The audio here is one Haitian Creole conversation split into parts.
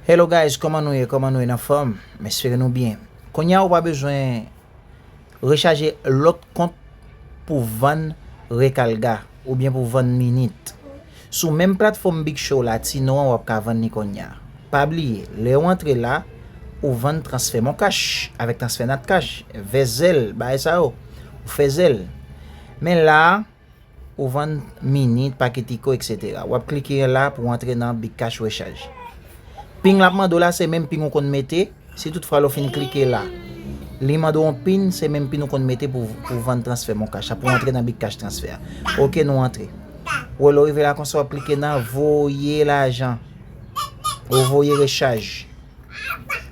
Hello guys koman nou ye koman nou ye nan fòm m espere nou byen kounya ou pa bezwen rechaje lòt kont pou vann rekalga oubyen pou vann minit sou menm platfòm big show la ti non an wap ka vann li kounya pa bliye lè ou antre la ou vann transfè moncash avèk transfè natcash vèzèl bagay sa yo ou fè zèl men la. Ou vann minit, paketiko etc. Wap klike la pou antre nan Bcash rechaj. Ping lap mande w la se menm ping ou konn mete, si tout fwa lè w fin klike la li mande w yon pin se menm pin ou konn mete pou ou vann transfè moncash a pou antre nan Bcash transfè a. Ok nou antre. Ou wè lè w rive la konsa wap klike nan voye lajan. Ou voye rechaj.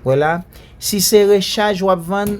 Wè la, si se rechaj wap vann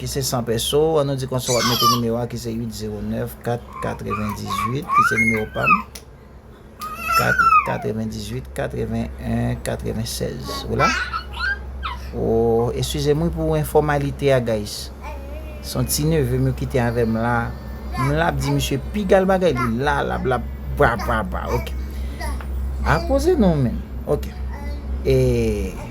ki se san pèso, an nou di konsa wap mete nimewo a ki se 809 498 ki se nimewo pam 498 81 96 ou la oh eswize mwen pou informalite a guys son ti neve mwen kite avè m la m la ap di misye pigal bagay li la la bla bla bla bla ok a koze non men ok eee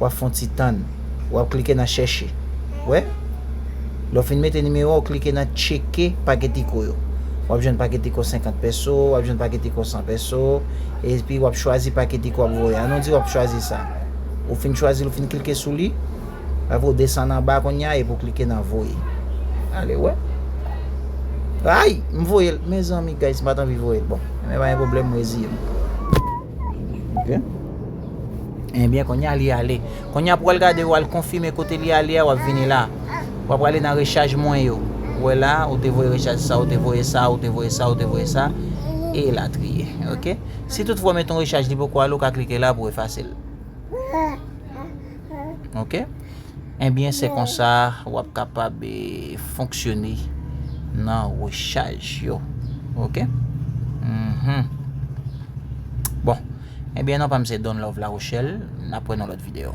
wap fon ti tann, wap klike nan chèche, wè? Lè w fin mete nimewo a, w klike nan tcheke paketiko yo. Wap jwenn paketiko 50 pèso, wap jwenn paketiko 100 pèso, epi wap chwazi paketiko wap voye. An nou di wap chwazi sa. Ou fin chwazi l, ou fin klike sou li, apre w desann anba kounye a epi w klike nan voye. Ale wè. Ayy! M voye l. Mezanmi guys, m pat anvi voye l. Bon, men pa gen pwoblèm, m reziye m. Ok. Ebyen konya li ale. Konya pou al gade ou al konfime kote li ale a wap vini la. Wap ale nan rechaj mwen yo. Ou wè la, ou te voye rechaj sa, ou te voye sa, ou te voye sa, ou te voye sa, e latriye. Ok. Si tout fwa ou mete yon rechaj li poko ale ou ka klike la pou efase l. Ok. Ebyen se konsa wap kapab e fonksyone nan rechaj yo. Ok. Bon. Ebyen non pam se Don Love Larochelle, nap wè nan lòt video.